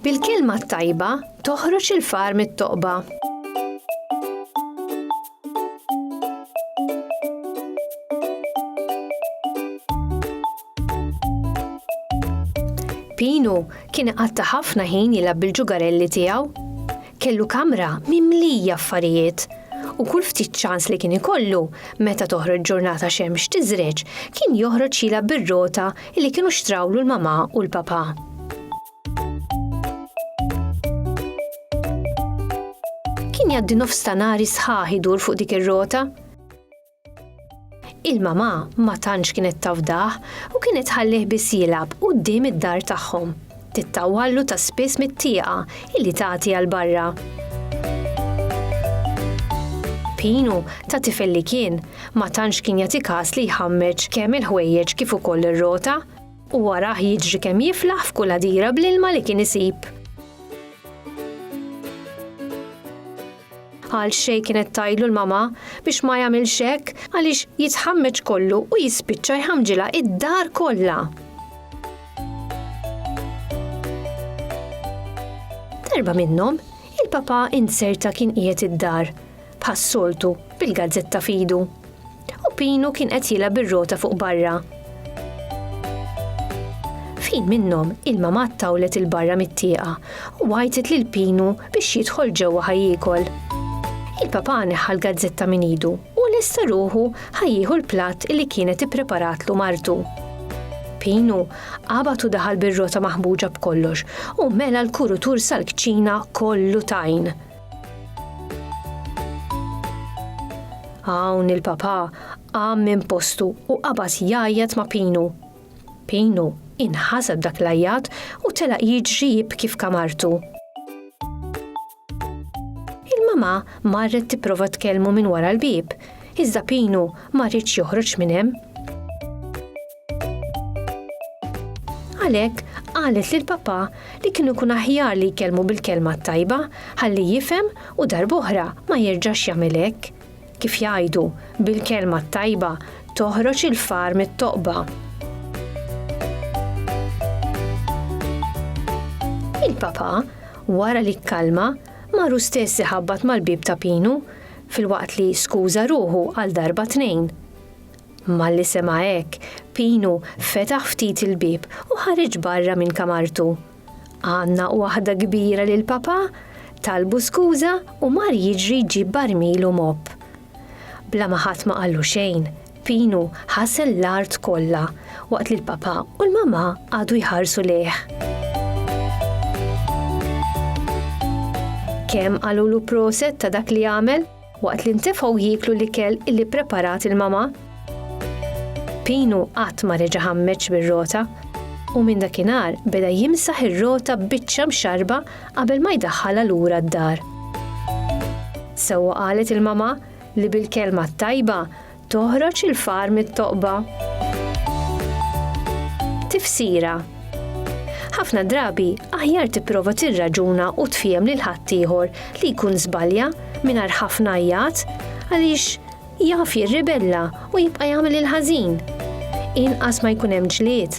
Bil-kelma t-tajba toħroġ il-far mit-toqba. Pinu kien qatta ħafna ħin jilgħab bil-ġugarelli tiegħu Kellu kamra mimlija affarijiet, u kull ftit ċans li kien ikollu, meta toħroġ ġurnata xemx tiżreġ, kien joħroġ jilgħab bir-rota li kienu xtrawlu l-mamà u l-papà. Kien jgħaddi nofs ta' nhari sħaħ idur fuq dik ir-rota. Il-mama ma tantx kienet tafdah u kienet ħallih biss jilgħab quddiem id-dar tagħhom. Tittawwallu ta' spiss mit-tieqa illi tagħti għal barra. Pinu, ta' tifel li kien, ma tantx kien jagħti każ li jħammeġ kemm il-ħwejjeġ kif ukoll ir-rota u warah jiġri kemm jiflaħ f'kull għadira bl-ilma li kien isib. Għal xejn kienet tajlu l-mama biex ma jagħmilx hekk għaliex jitħammeġ kollu u jispiċċa jħamġilha id-dar kollha. Darba minnhom, il-papa inserta kien qiegħed id-dar, bħas-soltu bil-gazzetta f'idu. u Pinu kien qed jilgħab bir-rota fuq barra. F'ħin minnhom il-mamà ttawlet 'il barra mit-tieqa u għajtet lil Pinu biex jidħol ġewwa ħa jiekol. Il-papà neħħa l-gazzetta minn idu u lesta ruħu ħa jieħu l-platt li kienet ippreparatlu martu. Pinu qabad u daħal bir-rota maħmuġa b'kollox u mela l-kurutur sal-kċina kollu tajn. Hawn il-papà qam minn postu u qabad jgħajjat ma' Pinu. Pinu inħaseb dak l-għajjat u telaq jiġri jibki f'kamartu. Il-mamà marret tipprova tkellmu minn wara l-bieb, iżda Pinu ma riedx joħroġ minn hemm. Għalhekk qalet lil papà li kienu kun aħjar li jkellmu bil-kelma tajba ħalli jifhem u darboħra ma jerġax jagħmel hekk. Kif jgħidu, bil-kelma tajba toħroġ il-far mit-toqba. Il-papà, wara li kkalma, maru stess iħabbat mal-bib ta' Pinu, fil-waqt li skuża ruħu għal darba tnejn. Malli sema' hekk, Pinu fetaħ ftit il-bieb u ħareġ barra minn kamartu. Għannaq waħda kbira lil Papà, talbu skuża u mar jiġri jġib barmil u mopp. Bla ma ħadd ma qallu xejn, Pinu ħasel l-art kollha waqt li l-Papà u l-Mamà qagħdu jħarsu lejh. Kemm qalulu proset ta' dak li għamel? Waqt li ntefgħu jieklu l-ikel li ppreparat il-mama. Pinu qatt ma reġa' ħammeġ bir-rota u minn dakinhar beda jimsaħ ir-rota b'biċċa mxarrba qabel ma jdaħħalha lura d-dar. Sewwa qalet il-mama li bil-kelma t-tajba Toħroġ il-far mit-toqba. Tifsira Ħafna drabi aħjar tipprova tirraġuna u tfiem lil ħaddieħor li jkun żbalja mingħajr ħafna jgħat għaliex jaf jirribella u jibqa' jagħmel il-ħażin. Inqas ma jkun hemm ġlied,